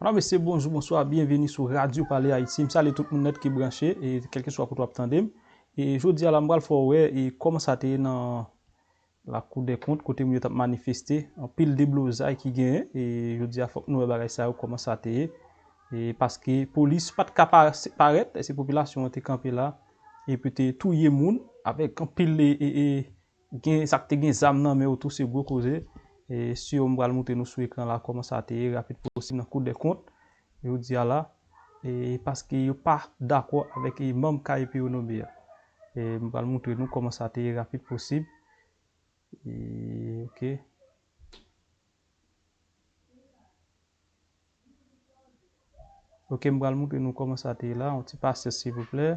Madam mesye bonjou bonswa byenveni sou radyo pale ayiti m salye tout moun nèt ki branche e kèlkeswa kote wap tande m e jodi a la m pral fè w wè e kòman sa te ye nan lakou dè kont kote moun yo tap manifeste anpil deblozay ki genyen e jodi a fòk nou wè bagay sa yo kòman sa te ye e paske polis pat ka parèt eske popilasyon an te kanpe la e pou te touye moun avèk anpil e Gen sak te gen zam nan men yo tou se gwo koze e si yo m pral moutre nou sou ekran la koman sa te ye rapid posib nan kou dè kont jodi a la e paske yo pa dakò avèk e manm KEP yo nome a e m pral moutre nou koman sa te ye rapid posib e ok. Ok m pral moutre nou koman sa te ye la yon ti pasyans silvouplè.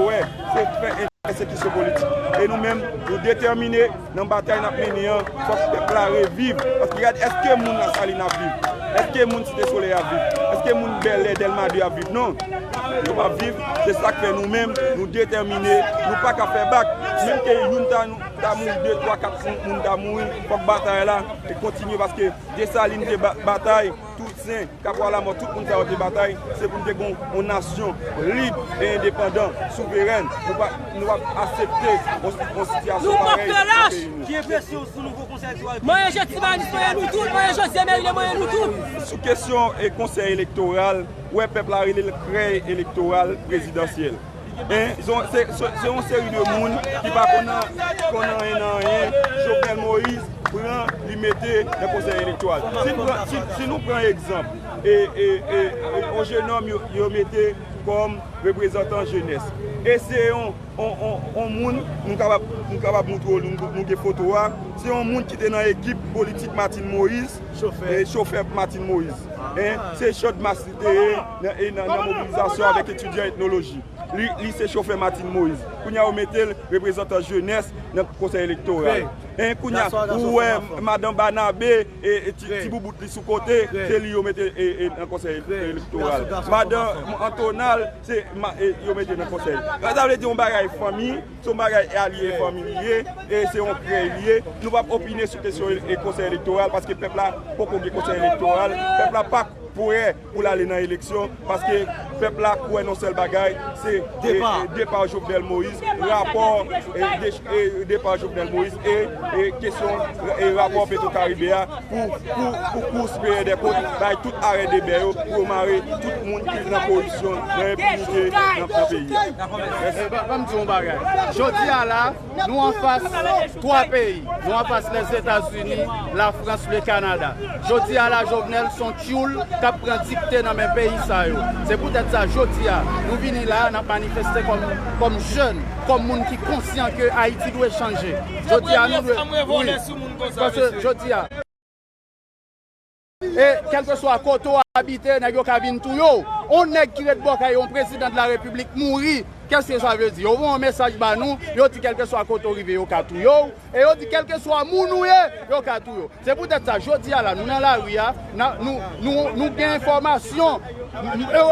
Wè, se fè pèsekisyon politik. E nou menm, nou detèmine nan batay n ap mennen an, fòk pèp la reviv. Paske gad, èske moun Lasalin ap viv? Èske moun Site Solèy ap viv? Èske moun Bèlè, Dèlma 2 ap viv? Non, yo p ap viv. Se sa k fè nou menm, nou detèmine, nou pa ka fè bak. Menm ke youn ta mouri, de, twa, kat moun ta mouri, fòk batay la kontinye paske Desalin te batay. Toutsen, kapwa lamò tout moun sa yo te batay, se pou nou te gen yon nasyon lib e endepandan, souverèn. Nou pap asepte yon sitiyasyon parèy nan peyi nou. Mwen je Timalis, mwen je nou tout, mwen je Josye Merilè, mwen je nou tout. Sou kesyon konsèy elektoral, wè pèp la rele l krèy elektoral prezidansyèl. Se yon seri de moun ki pa konn anyen nan anyen, Jovenel Moïse pran li mete nan konsèy elektoral. Si nou pran egzanp, yon jenom yo mete kòm reprezantan jenès. E se yon moun, nou kapab moutre ou nou gen foto a, se yon moun ki te nan ekip politik Martine Moïse, chofè Martine Moïse. Se chòdmas li te ye. nan mobilizasyon avèk etidyan etnoloji. Li se chofè Martine Moïse. Kounye a yo mete l reprezantan jenès nan konsèy elektoral. Hein kounye a ou wè madan Barnabé ti boubout li sou kote se li yo mete nan konsèy elektoral. Madan Antonal se yo mete nan konsèy. Sa vle di yon bagay fanmi, se yon bagay alye fanmi li ye, se yon krèy li ye. Nou p ap opine sou kesyon konsèy elektoral paske pèp la poko gen konsèy elektoral. Pèp la pa prè. pou l ale nan eleksyon paske pèp la kwè nan sèl bagay se depa Jovenel Moïse rapò depa Jovenel Moïse e kesyon e rapò petro karibe a pou kous peye de kont bay tout arè de bè yo pou mare tout moun ki nan koripsyon nan enpinite nan peyi a. Mèsi. Banm di yon bagay. Jodi a la. Nou anfas 3 peyi, nou anfas Lèzetazini, Lafrans, Le Kanada. Jodi a la Jovenel son tyoul k ap pran dikte nan men peyi sa yo. Se poutèt sa jodi a nou vini la a n ap manifeste kòm jèn, kòm moun ki konsyan ke Ayiti dwe chanje. Jodi a nou dwe wi paske jodi a. E kèlkeswa kote w abite, nèg yo ka vin touye w. Yon nèg ki ret bò kay yon prezidan de la repiblik mouri, kèske sa vle di? Yo voye yon mesaj ba nou, yo di kèlkeswa kote w rive yo ka touye w, e yo di kèlkeswa moun ou ye, yo ka touye w. Se poutèt sa, jodi a la, nou nan lari a, nou gen enfòmasyon,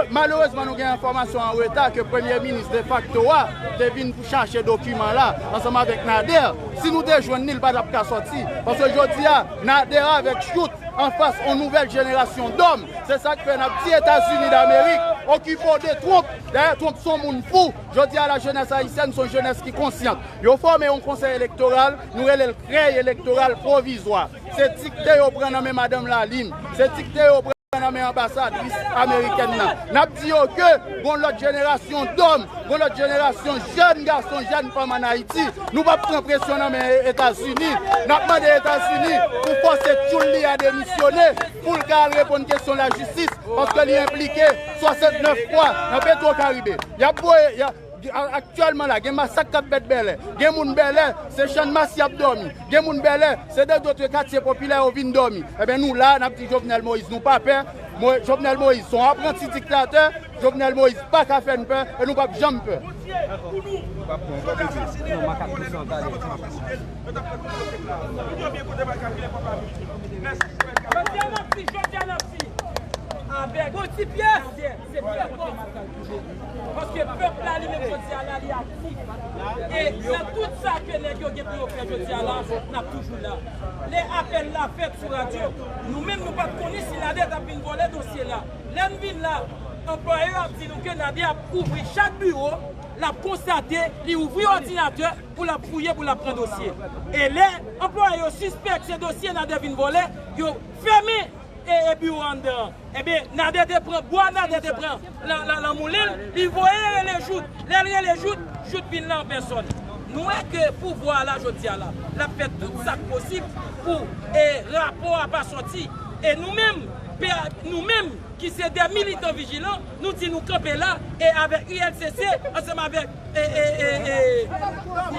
malerezman nou gen enfòmasyon an reta ke premye minis defakto a te vin pou chache dokiman la ansanm avèk Nader. Si nou te jwenn li, li pa t ap ka sòti. Paske jodi a. Nader avèk chout anfas on nouvèl jenerasyon dòm se sak fè nap di etazini damerik okipe w de Trump dayè Trump son moun fou jodi a la jenès ayisyèn son jenès ki konsyant yo fòme on konsèy elektoral nou rele l krèy elektoral pwovizwa se dikte yo pran nan men madanm lalin se dikte yo pran nan men anbasadris amerikèn nan. N ap di yo ke gon lòt jenerasyon dòm, gon lòt jenerasyon jèn gason, jèn fanm ann Ayiti. Nou p ap pran presyon nan men Etazini. N ap mande Etazini pou fòse tchoul li a demisyone pou l ka al reponn kesyon lajistis paske li enplike 69 fwa nan Petwokaribe. Y ap voye. Aktyèlman la gen masak k ap fèt Bèlè. Gen moun Bèlè, se Channmas y ap dòmi. Gen moun Bèlè, se de dotre katye popilè yo vin dòmi. Enben nou la a, n ap di Jovenel Moïse nou pa pè. Jovenel Moïse se yon apranti diktatè. Jovenel Moïse pa ka fè n pè e nou p ap janm pè. Se pè kò map tann toujou. Paske pèp la li menm jodi a la li aktif. E nan tout sa ke nèg yo gen pou yo fè jodi a la, nap toujou la. Lè apèl la fèt sou radyo, nou menm nou pat konnen si Nader tap vin vòlè dosye la. Lè n vin la, anplwaye yo ap di nou ke Nader ap ouvri chak biwo, lap konstate, li ouvri òdinatè pou lap fouye, pou lap pran dosye. E lè anplwaye yo sispèk se dosye Nader vin vòlè, yo fèmen biwo anndan an. Ebyen Nader te pran bwa Nader te pran lan moulin li voye rele Jout lèl rele Jout Jout vin la an pèsòn nou wè ke pouvwa a la jodia la lap fè tout sak posib pou rapò a pa sòti e nou menm nou menm ki se dè militan vijilan nou di nou kanpe la e avèk ULCC ansanm avèk.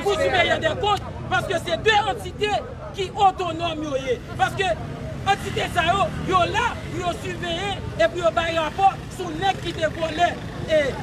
Pou siveye dè kont paske se 2 antite ki otonòm yo ye paske antite sa yo yo la pou yo siveye e pou yo bay rapò sou nèg ki te vòlè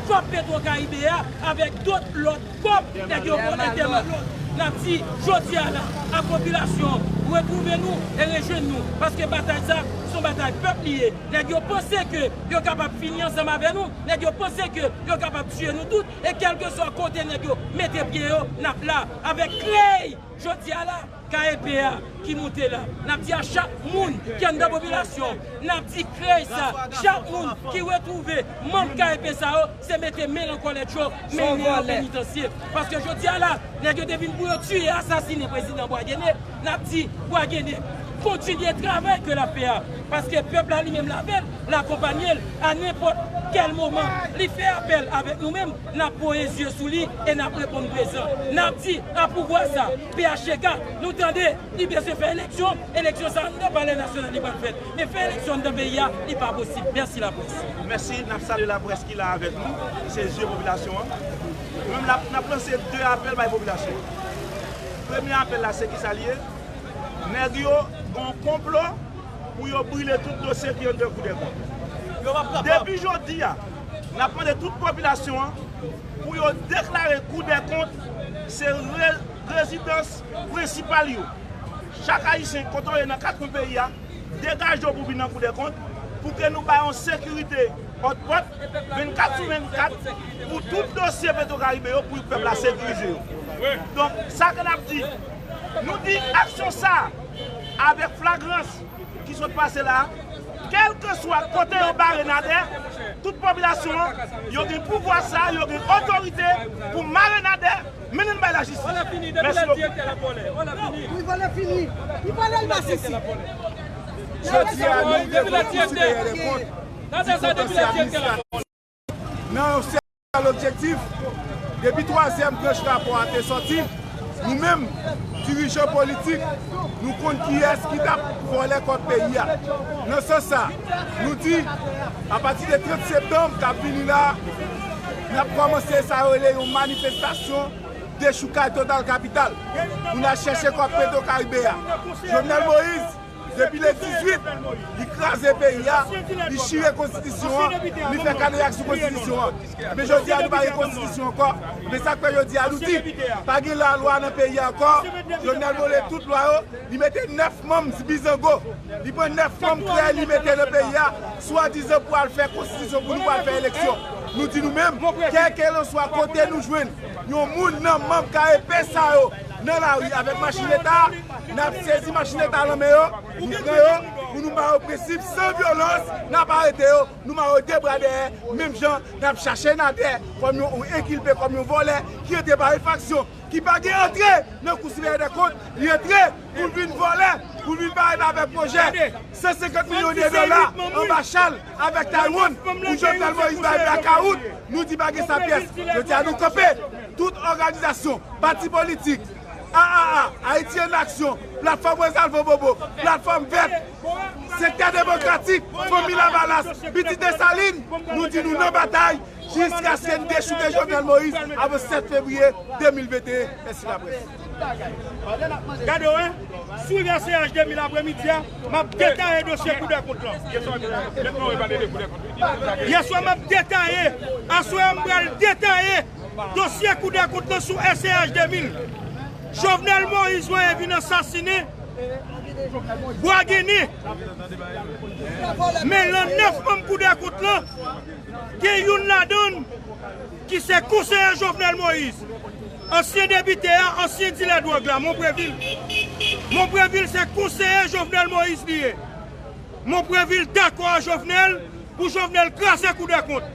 kòb petrokaribe a avèk dot lòt kòb nèg yo vòlè tèlman lòt nap di jodi a la a popilasyon retwouve nou e rejwenn nou paske batay sa son batay pèp li ye nèg yo panse ke yo kapab fini ansanm avè nou. Nèg yo panse ke yo kapab tiye nou tout e kelkeswa kote nèg yo mete pye yo nap la avèk kley jodia la KEP a ki moute la nap di a chak moun ki anndan popilasyon nap di kley sa chak moun ki retwouve manm KEP sa yo se mete men lan kòlèt yo mennen yo penitansye paske jodia la nèg yo te vin pou yo tiye asasine prezidan Bwagene nap di Bwagene kontinye travay ke lap fè a paske pèp la li menm lavel. L akonpanye l a nenpòt kèl moman. Li fè apèl avèk nou menm, n ap voye zye sou li e n ap reponn prezan. N ap di a pouvwa sa, PHTK, nou tande, li bezwen fè eleksyon, eleksyon sa anndan palè nasyonal li pral fèt, men fè eleksyon anndan peyi a, li pa posib. Mèsi laprès. Mèsi, n ap salye laprès ki la avèk nou, ki se zye popilasyon an. Nou menm la, n ap lanse de apèl bay popilasyon an. Premye apèl la se kisa li ye? Nèg yo gen yon konplo. pou yo brile tout dosye ki anndan kou dè kont. Depi jodi a, n ap mande tout popilasyon an pou yo deklare kou dè kont se rezidans prensipal yo. Chak Ayisyen kote w ye nan kat kwen peyi a, degaje w pou vin nan kou dè kont pou ke nou bay yon sekirite òt pòt 24 sou 24 pou tout dosye Petro Caribe yo pou pèp la sekirize yo. Donk sa ke n ap di. Nou di aksyon sa a avèk flagrans ki sot pase la a, kèlkeswa kote yo bare Nadè, tout popilasyon an, yo gen pouvwa sa a, yo gen otorite pou mare Nadè, mennen l bay lajistis. Mèsi bokou. Nan yon sèl objektif, depi twazyèm branch rapò a te sòti, nou menm, dirijan politik, nou konn kiyès ki t ap vòlè kòb peyi a. Nan sans sa, nou di, apati de 30 septanm k ap vini la, n ap kòmanse sa yo rele yon manifestasyon dechoukay total kapital pou n al chèche kòb Petro Caribe a. Jovenel Moïse. Depi le 18, li kraze peyi a, li chire konstitisyon an, li fè kadeyak sou konstitisyon an. Men jodi a nou pa gen konstitisyon ankò, men sak fè jodi a nou di, pa gen lalwa nan peyi a ankò, Jovenel vole tout lwa yo, li mete 9 manm zbizango, li pran 9 manm krèy li mete nan peyi a, swadizan pou al fè konstitisyon pou nou pou al fè eleksyon. Nou di nou menm, kèlkelanswa kote nou jwenn yon moun nan manm KEP sa yo nan lari avèk machin leta, Nap sezi machin leta lan men yo, nou pran yo pou nou ba yo prensip san vyolans, nap arete yo, nou mare yo de bra dèyè menm jan nap chache Nader kòm yon enkilpe, kòm yon vòlè ki antre pa efraksyon, ki pa gen antre nan kou siveyè dè kont, li antre poul vin vòlè, poul vin parèt avèk pwojè 150 milyon de dola anba chal avèk Taiwan pou Jovenel Moïse bay blakawout, nou di pa gen sa pyès, jodia nou kanpe tout òganizasyon, pati politik. AAA, Ayiti an Aksyon, Platfòm Resalvo Bobo, Platfòm Vèt, Sektè Demokratik, Fanmi Lavalas, Pitit Desalin, nou di nou nan batay jiskaske n dechouke Jovenel Moïse avan 7 fevriye 2021. Mèsi laprès. Dosye kou dèkont lan sou SCH 2000, Jovenel Moïse voye vin ansasine Bwa Ginen. Men lan 9 manm kou dèkont lan, gen youn ladann ki se konseye Jovenel Moïse, ansyen depite a, ansyen dilè dwòg la, Monprevil. Monprevil se konseye Jovenel Moïse li ye. Monprevil dakò a Jovenel pou Jovenel kraze kou dèkont.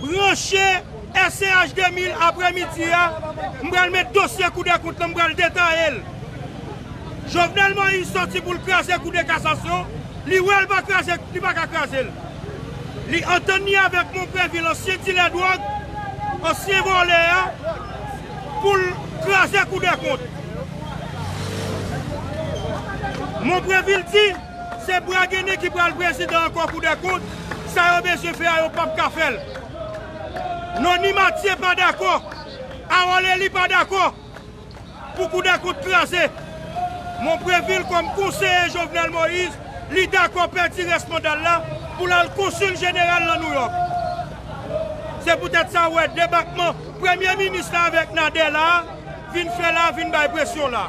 Branche SCH 2000 aprè midi a, m pral met dosye kou dè kont lan m pral detaye l. Jovenel Moïse sòti pou l kraze kou dè kasasyon, li wè l pa kraze, li pa ka kraze l. Li antann ni avèk Monprevil ansyen dilè dwòg, ansyen vòlè a, pou l kraze kou dè kont. Monprevil di. Se bragene ki pral prezidan ankò koudèkont sa yo bezwen fè a yo pap ka fèl non ni matye pa dakò arol eli pa dakò pou koudèkont kraze mon previl kòm konseye jovenel moïse li dakò pèdi rès mandal la poul al konsul jeneral nan nouyòk se poutèt sa ou wè debakman premye minis la avèk nadè la vin fè la vin bay presyon la.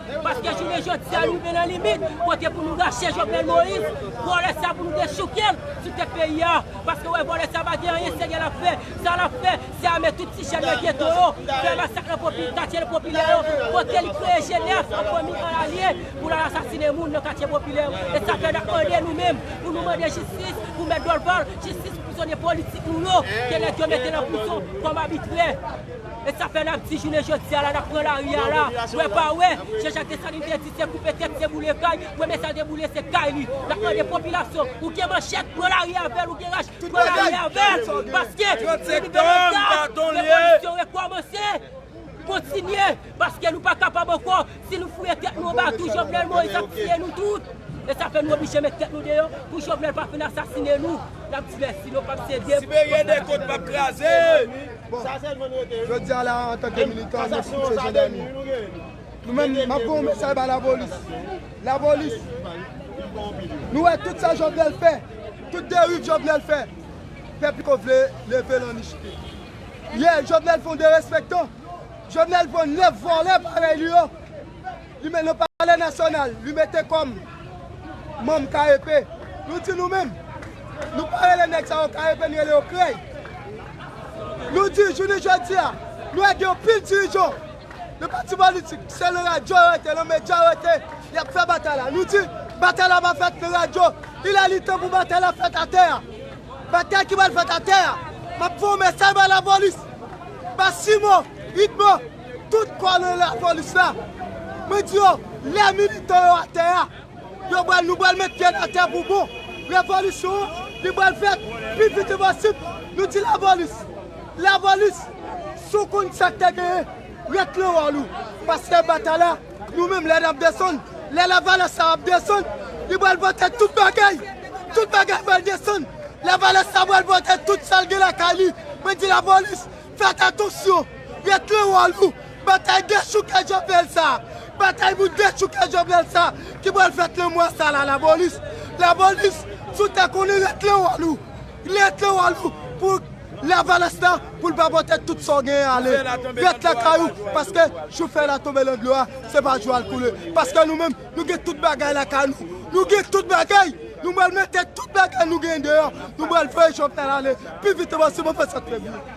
Paske jounen jodi a nou rive nan limit kote pou nou rache Jovenel Moïse, vòlè sa pou nou dechouke l sou tèt peyi a. Paske wè vòlè sa pa gen anyen serye l ap fè. Sa l ap fè, se ame tout ti jèn nan geto yo, fè masak nan popi katye popilè yo, kote li kreye jenès an fanmi an alye pou l al asasine moun nan katye popilè. E sa fè n ap mande nou menm pou nou mande jistis pou mèt Dorval, jistis pou prizonye politik nou yo ke nèg yo mete nan prizon kòm abitrè. Et sa fè nap di jounen jodia la nap pran lari a la, wè pa wè, Jean Jacques Dessalines te di se koupe tèt se boule kay, premye sal te boule se kay li, nap mande popilasyon ou gen manchèt pran lari avèl ou gen rach pran lari avèl paske se libere sa revolisyon rekòmanse, kontinye paske nou pa kapab ankò. Si nou fouye tèt nou anba tou Jovenel Moïse ap tiye nou tout. E sa fè nou oblije met tèt nou deyò pou Jovenel pa fin asasine nou. Nap di mèsi nou pap sede. Sibérie des côtes pap kraze! Jodi a la antanke militan nou pouse jendèmi. Nou menm map voye yon mesaj ba lapolis. Lapolis nou wè tout sa Jovenel fè, tout deriv Jovenel fè, pèp yo vle leve l an nichpil. Yè Jovenel fè yon derespektan. Jovenel pran 9 vòlè parèy li yo, li met nan palè nasyonal, li mete kòm manm KEP. Nou di nou menm, nou pa rele nèg sa yo KEP, nou rele yo krèy. Nou di jounen jodi a, nou wè gen yon pil dirijan nan pati politik, se nan radyo yo rete, nan medya yo rete, y ap fè batay la. Nou di batay la pa fèt nan radyo, il è li tan pou batay la fèt atè a. Batay ki pral fèt atè a, m ap voye mesaj bay lapolis. Pa Simo, Idmo, tout kòlonèl lapolis la, mwen di yo, lè militan yo atè a, yo pral, nou pral met pye n atè pou bon. Revolisyon an, li pral fèt pi vite posib. Nou di lapolis, lapolis, si w konn sa k te genyen, ret nan wòl ou, paske batay la, Nou menm lè nap desann, lè lavalas sa ap desann, li pral pote tout bagay, tout bagay pral desann, lavalas sa pral pote tout sal gen lakay li, mwen di lapolis fèt atansyon, ret nan wòl ou, batay dechouke Jovenel sa, batay pou dechouke Jovenel sa ki pral fèt nan mwa sa la lapolis, lapolis sou tè konnen ret nan wòl ou. Lè tan wa lou pou lavalas la pou l pa pote tout sa w genyen ale. Ret lakay ou paske jou fèy la tonbe nan dlo a se pa jou al koule. Paske nou menm nou gen tout bagay lakay nou. Nou gen tout bagay! Nou pral mete tout bagay nou genyen deyò. Nou pral voye Jovenel ale pi vit e posible anvan sa trè byen.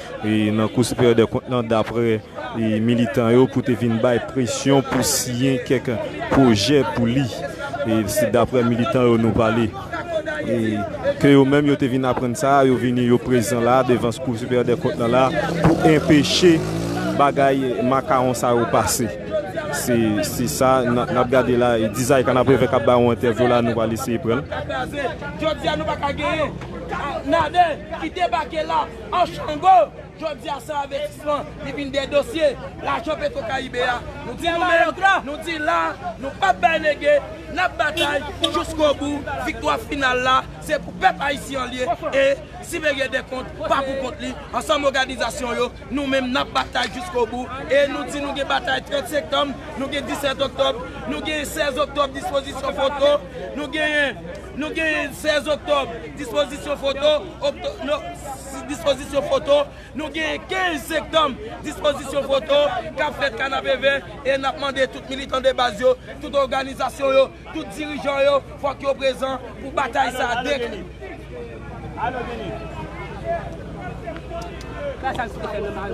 nan Kou Siperyè dè Kont lan dapre militan yo pou te vin bay presyon pou siyen kèk pwojè pou li. Se dapre militan yo nou pale ke yo menm yo te vin aprann sa a, yo vini yo prezan la devan Kou Siperyè dè Kont lan la pou enpeche bagay makawon sa yo pase. Se sa n ap gade la e Dizay Kanapevè k ap bay yon entèvyou la nou pral eseye pran l. An Chango, jodi a san envestisman ki vin dèyè dosye lajan petro karibe a, nou di nou mèt, nou di la, nou pap bay lege, nap batay jouskobou, viktwa final la se pou pèp ayisyen an li ye e Siveye Dekont pa pou kont li, ansanm oganizasyon yo nou menm nap batay jouskobou e nou di nou gen batay 30 sektanm, nou gen 17 oktòb, nou gen 16 oktòb dispozisyon foto, nou genyen. Nou gen 16 oktòb, dispozisyon foto, dispozisyon foto, nou gen 15 sektanm, dispozisyon foto, k ap fèt Kanapevè e n ap mande tout militan de baz yo, tout òganizasyon yo, tout dirijan yo fòk yo prezan pou batay sa a dekle.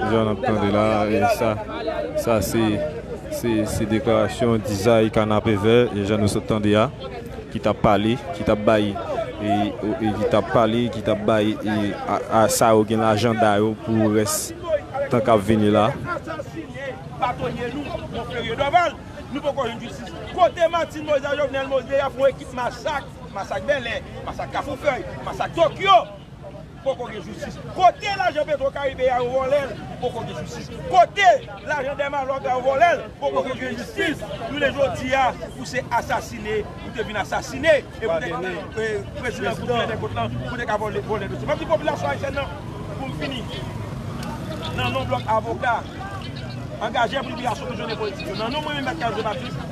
Jan n ap tande la sa se deklarasyon dizay Kanapevè jan nou sot tande a. Ki tap pale, ki tap bay e ki tap pale, ki tap bay a sa yo gen lajanda yo pou rès tan kap vini la. Kote asasine batonye nou Monferrier Dorval nou poko jwenn jistis kote Martine Moïse ak Jovenel Moïse deyap yon ekip masak, masak Bèlè, masak Kafoufèy, masak Tokyo. Poko gen jistis. Kote lajan petro karibe a yo volel poko gen jistis. Kote lajan dèmalòg la yo volel poko gen jistis. Jounen jodia ou se asasine ou te vin asasine e pou te ka prezidan pou plen dèkot lan pou te ka vole dosye. Map di popilasyon ayisyèn nan poum fini nan non blòk avoka angajè pou liberasyon prizonye politik yo nan non mwen menm Mèt Kaze Batiste.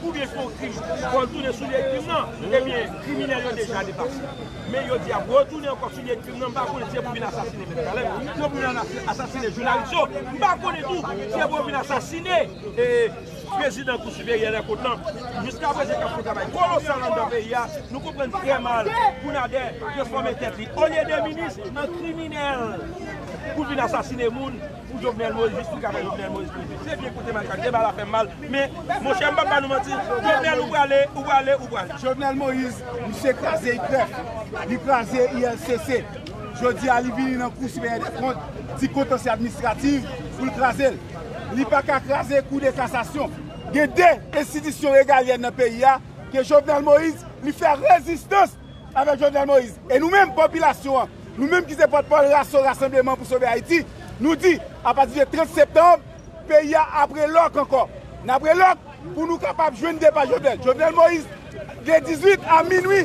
Pou gen fon krim, fò l tounen sou lye krim nan, ebyen kriminèl yo deja depase. Men yo di y ap retounen ankò sou lye krim nan, m pa konnen si se pou vin asasinen Mèt Kaleb, si se pou vin asasinen jounalis yo, m pa konnen tou si se pou yo vin asasine prezidan Kou Siperyè dè Kont lan, jiska prezan k ap fè yon travay kolosal anndan peyi a, nou konprann trè mal pou Nadè transfòme tèt li olye de minis, nan kriminèl pou l vin asasine moun. Pou Jovenel Moïse jistis ka fè Jovenel Moïse prive se vye kote makak deba la fèm mal men monchè mpap ba nou manti Jovenel ou prale ou prale ou prale. Jovenel Moïse misye kraze IPREF li kraze ILCC jodi a li vini nan kou siperyè dè kont di kontansye administrativ poul kraze l li paka kraze kou de kasasyon gen 2 enstitisyon regalyèn nan peyi a ke Jovenel Moïse li fè rezistans Avèk Jovenel Moïse. E nou menm, popilasyon an, nou menm ki se pòtpawòl RASO, Rasanbleman pou Sove Ayiti, nou di, apati de 30 septanm, peyi a ap re lòk ankò. N ap re lòk pou nou kapab jwenn depa Jovenel. Jovenel Moïse, de 18 a minui,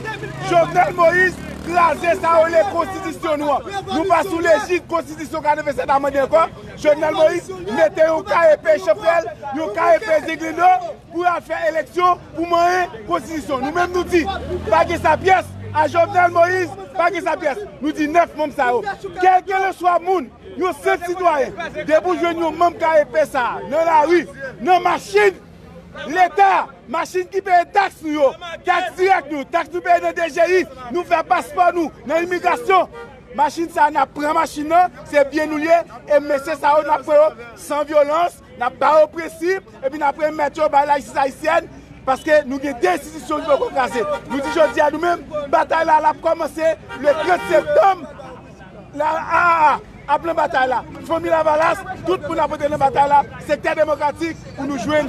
Jovenel Moïse kraze sa yo rele konstitisyon nou an. Nou pa sou lejid konstitisyon 87 a mande ankò. Jovenel Moïse mete yon kaye peye chanprèl, yon kaye peye zenglendo. Pou yo al fè eleksyon pou manyen konstitisyon. Nou menm nou di, pa gen sa pyès a Jovenel Moïse, pa gen sa pyès. Nou di 9 manm sa yo, kèlkèleswa moun, yon senp sitwayen, depi ou jwenn yon manm KEP sa a nan lari, nan machin Leta, machin ki peye taks nou yo, taks dirèk nou, taks nou peye nan DGI, nou fè paspò nou nan imigrasyon, machin sa a n ap pran machin nan, se byen nou l ye, e mesye sa yo n ap pran yo san vyolans, N ap ba yo prensip epi n ap remèt yo bay lajistis ayisyèn paske nou gen 2 enstitisyon ki poko kraze. Nou di jodi a nou menm, batay la l ap kòmanse le 30 septanm la aa ap nan batay la, Fanmi Lavalas, tout moun ap antre nan batay la, Sektè Demokratik pou nou jwenn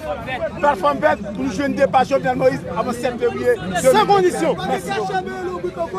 Platfòm Vèt, pou nou jwenn depa Jovenel Moïse avan 7 fevriye 2022. San kondisyon! Mèsi bokou!